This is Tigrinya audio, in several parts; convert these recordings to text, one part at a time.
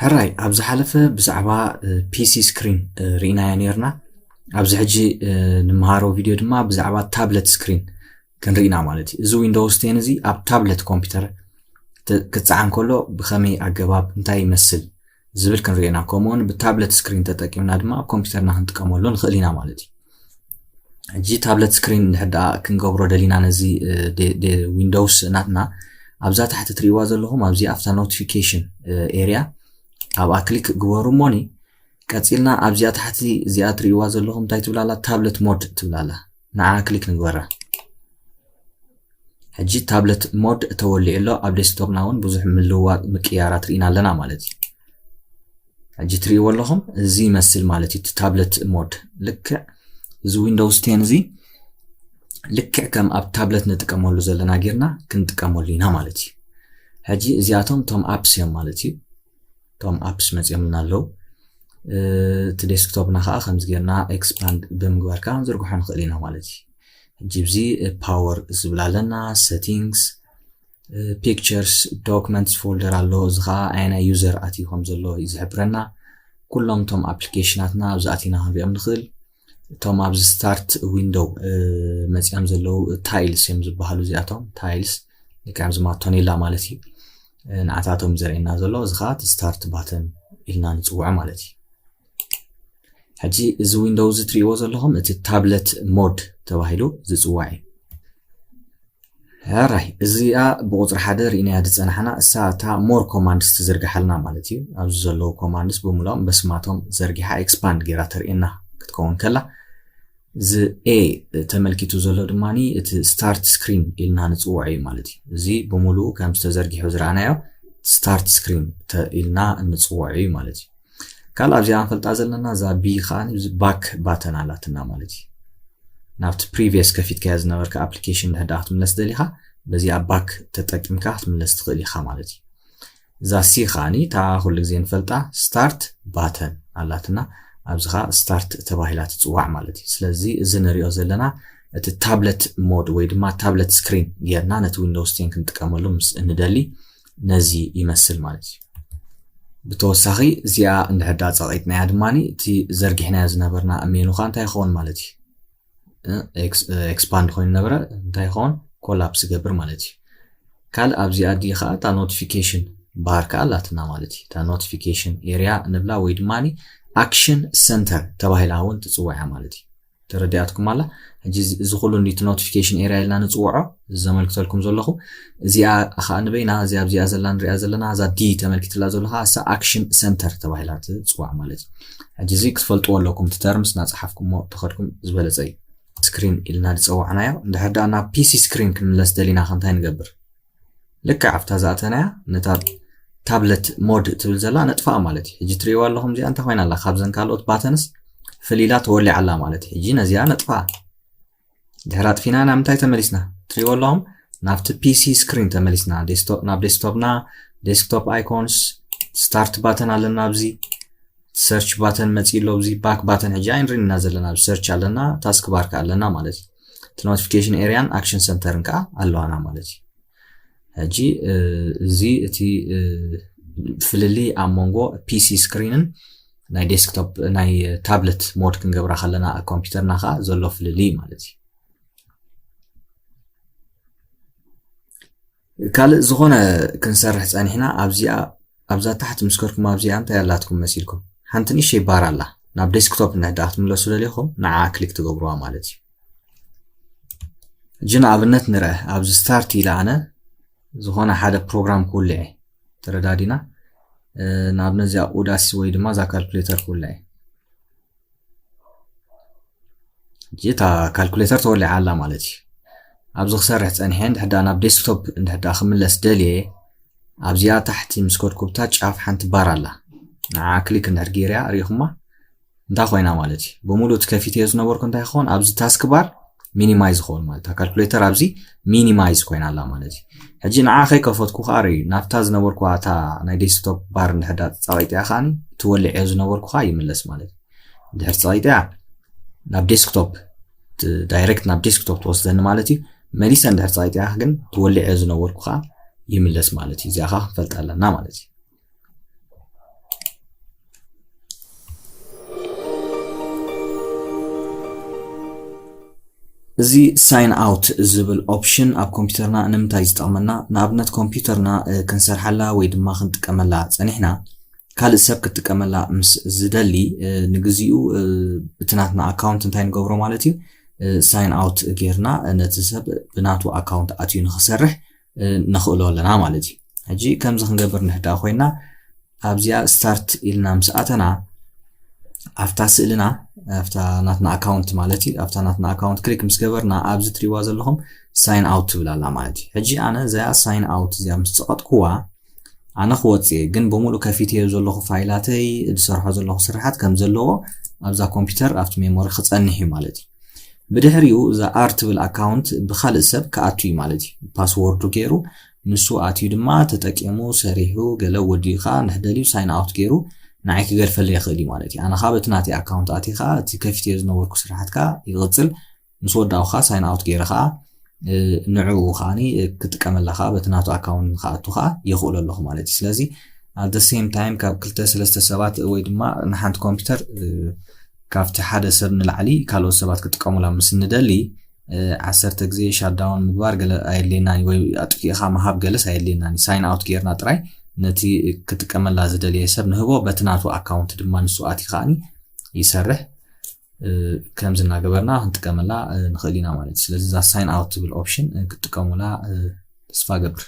ሕራይ ኣብ ዝሓለፈ ብዛዕባ ፒሲ ስክሪን ርኢናያ ነርና ኣብዚ ሕጂ ንምሃሮ ቪድዮ ድማ ብዛዕባ ታብለት ስክሪን ክንርኢና ማለት እዩ እዚ ዊንዶውስ ቴን እዚ ኣብ ታብለት ኮምፒውተር ክፀዓን ከሎ ብከመይ ኣገባብ እንታይ ይመስል ዝብል ክንርኢና ከምኡውን ብታብለት ስክሪን ተጠቂምና ድማ ኣብ ኮምፒውተርና ክንጥቀመሉ ንኽእል ኢና ማለት እዩ ሕጂ ታብለት ስክሪን እንድሕር ደኣ ክንገብሮ ደሊና ነዚ ዊንዶውስ ናትና ኣብዛ ታሕቲ ትርእይዋ ዘለኹም ኣብዚ ኣብታ ኖቲፊኬሽን ኤርያ ኣብኣ ክሊክ ግበሩ እሞኒ ቀፂልና ኣብዚኣ ታሕቲ እዚኣ ትርእይዋ ዘለኹም እንታይ ትብላላ ታብለት ሞድ ትብላላ ንዓ ክሊክ ንግበራ ሕጂ ታብለት ሞድ ተወሊዑ ኣሎ ኣብ ዴስክቶፕና እውን ብዙሕ ምልውዋጥ ምቅያራት ርኢና ኣለና ማለት እዩ ሕጂ ትሪእዎ ኣለኹም እዚ ይመስል ማለት እዩ ታብለት ሞድ ልክዕ እዚ ዊንዶውስ ቴን እዚ ልክዕ ከም ኣብ ታብለት ንጥቀመሉ ዘለና ጌርና ክንጥቀመሉ ኢና ማለት እዩ ሕጂ እዚኣቶም ቶም ኣፕስ እዮም ማለት እዩ ቶም ኣፕስ መፅኦምና ኣለዉ እቲ ዴስክቶፕና ከዓ ከምዚ ጌርና ኤክስፓንድ ብምግባር ከዓ ክንዝርግሖ ንኽእል ኢና ማለት እዩ ሕጂ ብዚ ፓወር ዝብል ኣለና ሰቲንግስ ፒክቸርስ ዶክመንትስ ፎልደር ኣሎ እዚ ከዓ ኣየናይ ዩዘር ኣትዩ ከም ዘሎ እዩ ዝሕብረና ኩሎም እቶም ኣፕሊኬሽናትና ኣብዚ ኣቲና ክንሪኦም ንኽእል እቶም ኣብዚ ስታርት ዊንዶው መፅኦም ዘለዉ ታይልስ እዮም ዝበሃሉ እዚኣቶም ታይልስ ልክዕም ዝማቶኔላ ማለት እዩ ንዓታቶም ዘርእየና ዘሎ እዚ ከዓ ስታርት ባተን ኢልና ንፅውዖ ማለት እዩ ሕጂ እዚ ዊንዶው እዚ ትሪእዎ ዘለኹም እቲ ታብለት ሞድ ተባሂሉ ዝፅዋዕ እዩ ራይ እዚኣ ብቁፅሪ ሓደ ርኢናያ ዝፀናሕና እሳ እታ ሞር ኮማንድስ ትዝርግሓልና ማለት እዩ ኣብዚ ዘለዉ ኮማንድስ ብምሎም በስማቶም ዘርጊሓ ኤክስፓንድ ጌራ ተርእየና ክትከውን ከላ እዚ ኤ ተመልኪቱ ዘሎ ድማ እቲ ስታርት ስክሪን ኢልና ንፅውዖ እዩ ማለት እዩ እዚ ብምሉኡ ከም ዝተዘርጊሑ ዝረኣናዮ ስታርት ስክሪን ኢልና ንፅውዖ እዩ ማለት እዩ ካልእ ኣብዚኣ ንፈልጣ ዘለና እዛ ቢ ከዓ እዚ ባክ ባተን ኣላትና ማለት እዩ ናብቲ ፕሪቪየስ ከፊትካዮ ዝነበርካ ኣፕሊኬሽን ድሕዳ ክትምለስ ደሊኻ በዚኣ ባክ ተጠቂምካ ክትምለስ ትኽእል ኢኻ ማለት እዩ እዛ ሲ ከዓኒ እታ ኩሉ ግዜ ንፈልጣ ስታርት ባተን ኣላትና ኣብዚ ከዓ ስታርት ተባሂላ ትፅዋዕ ማለት እዩ ስለዚ እዚ ንሪኦ ዘለና እቲ ታብለት ሞድ ወይ ድማ ታብለት ስክሪን ጌርና ነቲ ዊንዶውስ ቴን ክንጥቀመሉ ምስ እንደሊ ነዚ ይመስል ማለት እዩ ብተወሳኺ እዚኣ እንድሕዳ ፀቂጥናያ ድማ እቲ ዘርጊሕናዮ ዝነበርና ሜኑ ከዓ እንታይ ይኸውን ማለት እዩ ኤክስፓንድ ኮይኑ ነበረ እንታይ ይኸውን ኮላፕስ ይገብር ማለት እዩ ካልእ ኣብዚኣ ዲ ከዓ እታ ኖቲፊኬሽን ባር ከዓ ኣላትና ማለት እዩ እታ ኖቲፊኬሽን ኤሪያ ንብላ ወይ ድማ ኣክሽን ሰንተር ተባሂላ እውን ትፅዋያ ማለት እዩ ተረዲኣትኩም ኣላ ሕጂ እዚ ኩሉ ኒቲ ኖቲፊኬሽን ኤርያ ኢልና ንፅውዖ እዚ ዘመልክተልኩም ዘለኹ እዚኣ ከዓ ንበይና እዚ ኣብዚኣ ዘላ ንሪኣ ዘለና እዛ ዲ ተመልኪትላ ዘሎ ከዓ እሳ ኣክሽን ሰንተር ተባሂላ ትፅዋዕ ማለት እዩ ሕጂ እዚ ክትፈልጥዎ ኣለኩም እቲ ተርምስ እናፀሓፍኩምዎ ተኸድኩም ዝበለፀ እዩ ስክሪን ኢልና ዝፀዋዕናዮ እንድሕር ደኣ ናብ ፒሲ ስክሪን ክንምለስ ደሊና ከ እንታይ ንገብር ልክዕ ኣብታ ዝኣተናያ ነታ ታብለት ሞድ ትብል ዘላ ነጥፋኣ ማለት እዩ ሕጂ ትርእይዋ ኣለኹም እዚኣ እንታይ ኮይና ኣላ ካብዘን ካልኦት ባተንስ ፍልይላ ተወሊዓ ኣላ ማለት እዩ ሕጂ ነዚኣ ነጥፋኣ ድሕሪ ኣጥፊና ናብ ምንታይ ተመሊስና ትርእይዎ ኣለኹም ናብቲ ፒሲ ስክሪን ተመሊስና ናብ ዴስክቶፕና ዴስክቶፕ ኣይኮንስ ስታርት ባተን ኣለና ኣብዚ ሰርች ባተን መፅእ ኣሎ እዚ ባክ ባተን ሕጂ ኣይንሪን ኢና ዘለና ኣብ ሰርች ኣለና ታስክ ባር ከዓ ኣለና ማለት እዩ እቲ ኖቲፊኬሽን ኤሪያን ኣክሽን ሰንተርን ከዓ ኣለዋና ማለት እዩ ሕጂ እዚ እቲ ፍልልይ ኣብ መንጎ ፒሲ ስክሪንን ናይ ዴስክቶፕ ናይ ታብለት ሞድ ክንገብራ ከለና ኣብ ኮምፒውተርና ከዓ ዘሎ ፍልልይ ማለት እዩ ካልእ ዝኾነ ክንሰርሕ ጸኒሕና ኣብዚኣ ኣብዛ ታሕት ምስ ከድኩም ኣብዚኣ እንታይ ኣላትኩም መሲልኩም ሓንቲ ንእሽተይ ባር ኣላ ናብ ዴስክቶፕ እንድሕዳኣ ክትምለሱ ደሊኹም ንዓኣ ክሊክ ትገብርዋ ማለት እዩ ሕጂ ንኣብነት ንርአ ኣብዚ ስታርት ኢለ ኣነ ዝኾነ ሓደ ፕሮግራም ክውልዐ ተረዳዲና ንኣብነት እዚኣ ኡዳሲ ወይ ድማ እዛ ካልኩሌተር ክውልዐ እታ ካልኩሌተር ተወሊዓ ኣላ ማለት እዩ ኣብዚ ክሰርሕ ፀኒሐ እንድሕዳ ናብ ዴስክቶፕ እንድሕዳ ክምለስ ደልየ ኣብዚኣ ታሕቲ ምስ ኮድኩብታ ጫፍ ሓንቲ ባር ኣላ ንዓ ክሊክ እንድሕር ገይርያ ርኢኹማ እንታይ ኮይና ማለት እዩ ብምሉእ እቲ ከፊተዮ ዝነበርኩ እንታይ ክኸውን ኣብዚ ታስክ ባር ሚኒማይዝ ዝኸውን ማለት እታ ካልኩሌተር ኣብዚ ሚኒማይዝ ኮይና ኣላ ማለት እዩ ሕጂ ንዓ ከይከፈትኩ ከዓ ርእዩ ናብታ ዝነበርኩ እታ ናይ ዴስክቶፕ ባር እንድሕዳ ፀቂጢያ ከዓ እቲ ወሊዐዮ ዝነበርኩ ከዓ ይምለስ ማለት እዩ ድሕር ፀቂጢያ ናብ ዴስክቶፕ ዳይሬክት ናብ ዴስክቶፕ ትወስደኒ ማለት እዩ መሊሰ እንድሕር ፀቂጢያ ግን ትወሊዐዮ ዝነበርኩ ከዓ ይምለስ ማለት እዩ እዚኣ ከዓ ክንፈልጣ ኣለና ማለት እዩ እዚ ሳይን ኣውት ዝብል ኦፕሽን ኣብ ኮምፒውተርና ንምንታይ ዝጠቕመና ንኣብነት ኮምፒውተርና ክንሰርሓላ ወይ ድማ ክንጥቀመላ ፀኒሕና ካልእ ሰብ ክትጥቀመላ ምስ ዝደሊ ንግዚኡ እቲ ናትና ኣካውንት እንታይ ንገብሮ ማለት እዩ ሳይን ኣውት ጌርና ነቲ ሰብ ብናቱ ኣካውንት ኣትዩ ንክሰርሕ ነኽእሎ ኣለና ማለት እዩ ሕጂ ከምዚ ክንገብር ንሕዳ ኮይና ኣብዚኣ ስታርት ኢልና ምስ ኣተና ኣብታ ስእልና ኣብታ ናትና ኣካውንት ማለት እዩ ኣብታ ናትና ኣካውንት ክሊክ ምስ ገበርና ኣብዚ ትሪዋ ዘለኹም ሳይን ኣውት ትብል ኣላ ማለት እዩ ሕጂ ኣነ እዚኣ ሳይን ኣውት እዚኣ ምስ ፀቐጥኩዋ ኣነ ክወጽእ እየ ግን ብምሉእ ከፊትዮ ዘለኹ ፋይላተይ ዝሰርሖ ዘለኹ ስራሓት ከም ዘለዎ ኣብዛ ኮምፒውተር ኣብቲ ሜሞሪ ክጸንሕ እዩ ማለት እዩ ብድሕሪኡ እዛ ኣር ትብል ኣካውንት ብካልእ ሰብ ክኣቱ እዩ ማለት እዩ ፓስወርዱ ገይሩ ንሱ ኣትዩ ድማ ተጠቂሙ ሰሪሑ ገለ ወዲኡ ከዓ ንሕደልዩ ሳይን ኣውት ገይሩ ንዓይ ክገድፈለ ይኽእል እዩ ማለት እዩ ኣነ ከዓ በቲ ናተይ ኣካውንት ኣትኻ እቲ ከፊትዮ ዝነበርኩ ስራሓት ከዓ ይቕፅል ምስ ወዳእኩ ከኣ ሳይን ኣውት ገይረ ከኣ ንዕኡ ከኣ ክጥቀመላ ከኣ በቲ ናቱ ኣካውንት ንክኣቱ ከኣ የኽእሎ ኣለኹ ማለት እዩ ስለዚ ኣብ ደ ሴም ታይም ካብ ክልተ ሰለስተ ሰባት ወይ ድማ ንሓንቲ ኮምፒውተር ካብቲ ሓደ ሰብ ንላዕሊ ካልኦት ሰባት ክጥቀሙላ ምስ ንደሊ ዓሰርተ ግዜ ሻዳውን ምግባር ገለ ኣየድልየናን ወይ ኣጥፊእኻ ምሃብ ገለስ ኣየድልየናን ሳይን ኣውት ጌርና ጥራይ ነቲ ክጥቀመላ ዝደልየ ሰብ ንህቦ በቲ ናቱ ኣካውንት ድማ ንሱ ኣቲ ከዓኒ ይሰርሕ ከምዚ እናገበርና ክንጥቀመላ ንኽእል ኢና ማለት እዩ ስለዚ እዛ ሳይን ኣውት ትብል ኦፕሽን ክትጥቀሙላ ተስፋ ገብር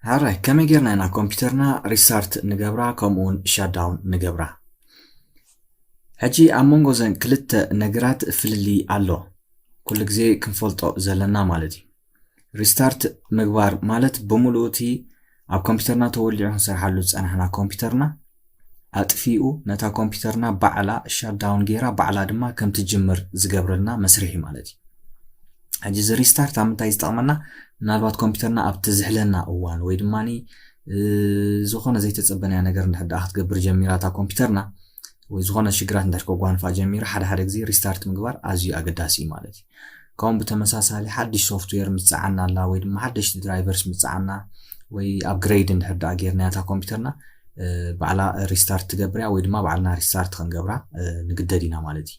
ሃራይ ከመይ ጌርና ኢና ኮምፒውተርና ሪሳርት ንገብራ ከምኡውን ሻዳውን ንገብራ ሕጂ ኣብ መንጎ ዘን ክልተ ነገራት ፍልልይ ኣሎ ኩሉ ግዜ ክንፈልጦ ዘለና ማለት እዩ ሪስታርት ምግባር ማለት ብምሉኡ እቲ ኣብ ኮምፒውተርና ተወሊዑ ክንሰርሓሉ ዝፀናሕና ኮምፒውተርና ኣጥፊኡ ነታ ኮምፒውተርና ባዕላ ሻዳውን ጌራ ባዕላ ድማ ከም ትጅምር ዝገብረልና መስርሒ ማለት እዩ ሕጂ እዚ ሪስታርት ኣብ ምንታይ ዝጠቕመና ምናልባት ኮምፒውተርና ኣብቲ ዝሕለና እዋን ወይ ድማ ዝኾነ ዘይተጸበናያ ነገር እንድሕር ደኣ ክትገብር ጀሚራ እታ ኮምፒውተርና ወይ ዝኾነ ሽግራት እንድሕር ከጓንፋ ጀሚሩ ሓደ ሓደ ግዜ ሪስታርት ምግባር ኣዝዩ ኣገዳሲ እዩ ማለት እዩ ከምኡ ብተመሳሳሊ ሓድሽ ሶፍትዌር ምጽዓና ኣላ ወይ ድማ ሓደሽቲ ድራይቨርስ ምጽዓና ወይ ኣፕግሬድ እንድሕር ደኣ ጌርናያ እታ ኮምፒውተርና ባዕላ ሪስታርት ትገብርያ ወይ ድማ ባዕልና ሪስታርት ክንገብራ ንግደድ ኢና ማለት እዩ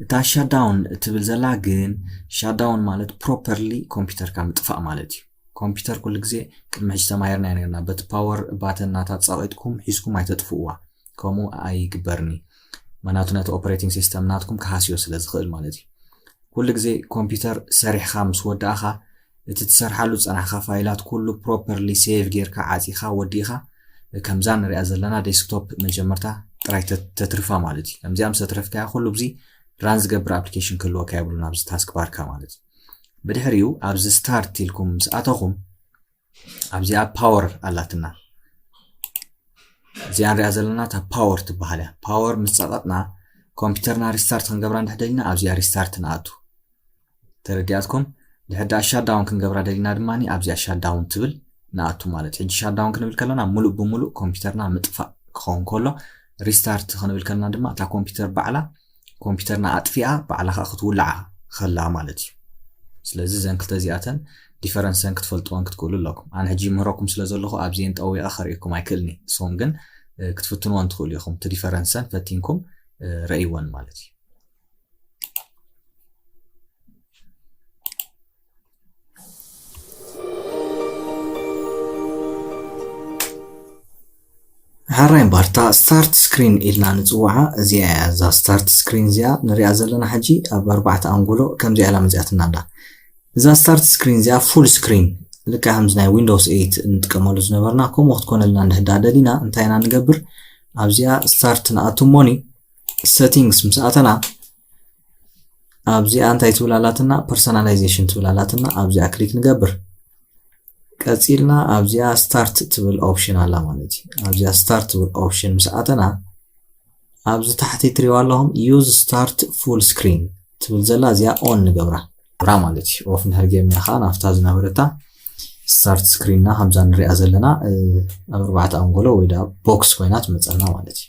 እታ ሻዳውን እትብል ዘላ ግን ሻዳውን ማለት ፕሮፐርሊ ኮምፒውተርካ ምጥፋእ ማለት እዩ ኮምፒተር ኩሉ ግዜ ቅድሚ ሕጂ ተማሂርናዮ ኔርና በቲ ፓወር ባተን ናታ ጸቂጥኩም ሒዝኩም ኣይተጥፍእዋ ከምኡ ኣይግበርን እዩ ምክንያቱ ነቲ ኦፕሬቲንግ ሲስተም ናትኩም ክሃስዮ ስለ ዝኽእል ማለት እዩ ኩሉ ግዜ ኮምፒተር ሰሪሕኻ ምስ ወዳእኻ እቲ ትሰርሓሉ ዝጸናሕካ ፋይላት ኩሉ ፕሮፐርሊ ሴቭ ጌርካ ዓጺኻ ወዲእኻ ከምዛ ንሪኣ ዘለና ዴስክቶፕ መጀመርታ ጥራይ ተትርፋ ማለት እዩ ከምዚኣ ምስ ተትረፍካያ ኩሉ ብዚ ራን ዝገብር ኣፕሊኬሽን ክህልወካ የብሉን ኣብዚ ታስክ ባርካ ማለት እዩ ብድሕሪኡ ኣብዚ ስታርት ኢልኩም ምስ ኣተኹም ኣብዚኣ ፓወር ኣላትና እዚኣ ንሪኣ ዘለና እታ ፓወር ትበሃል እያ ፓወር ምስ ፀቐጥና ኮምፒውተርና ሪስታርት ክንገብራ እንድሕ ደሊና ኣብዚኣ ሪስታርት ንኣቱ ተረዲኣትኩም ድሕር ዳኣ ሻዳውን ክንገብራ ደሊና ድማ ኣብዚኣ ሻዳውን ትብል ንኣቱ ማለት ሕጂ ሻዳውን ክንብል ከለና ሙሉእ ብሙሉእ ኮምፒውተርና ምጥፋእ ክኸውን ከሎ ሪስታርት ክንብል ከለና ድማ እታ ኮምፒውተር ባዕላ ኮምፒተርና ኣጥፊኣ ባዕላ ከዓ ክትውልዓ ከላ ማለት እዩ ስለዚ እዘን ክልተ እዚኣተን ዲፈረንሰን ክትፈልጥዎን ክትክእሉ ኣለኩም ኣነ ሕጂ ምህረኩም ስለ ዘለኹ ኣብዚኤን ጠዊቐ ከርእየኩም ኣይክእልኒ ንስኹም ግን ክትፍትንዎን ትኽእሉ ኢኹም እቲ ዲፈረንሰን ፈቲንኩም ረእይዎን ማለት እዩ ሕራይ እምበር እታ ስታርት ስክሪን ኢልና ንጽውዓ እዚኣ እያ እዛ ስታርት ስክሪን እዚኣ ንሪኣ ዘለና ሕጂ ኣብ ኣርባዕተ ኣንጎሎ ከምዚኣ ኢላ መዚኣትና ኣላ እዛ ስታርት ስክሪን እዚኣ ፉል ስክሪን ልካ ከምዚ ናይ ዊንዶውስ ኤት እንጥቀመሉ ዝነበርና ከምኡ ክትኮነልና እንድሕዳ ደሊና እንታይ ኢና ንገብር ኣብዚኣ ስታርት ንኣቱ ሞኒ ሴቲንግስ ምስ ኣተና ኣብዚኣ እንታይ ትብል ኣላትና ፐርሶናላይዜሽን ትብል ኣላትና ኣብዚኣ ክሊክ ንገብር ቀፂልና ኣብዚኣ ስታርት ትብል ኦፕሽን ኣላ ማለት እዩ ኣብዚኣ ስታርት ትብል ኦፕሽን ምስ ኣተና ኣብዚ ታሕቲ ትሪዋ ኣለኹም ዩዝ ስታርት ፉል ስክሪን ትብል ዘላ እዚኣ ኦን ንገብራ ብራ ማለት እዩ ኦፍ እንድሕር ጌርና ከዓ ናብታ ዝነበረታ ስታርት ስክሪንና ከምዛ ንሪኣ ዘለና ኣብ ኣርባዕተ ኣንጎሎ ወይ ቦክስ ኮይና ትመፀና ማለት እዩ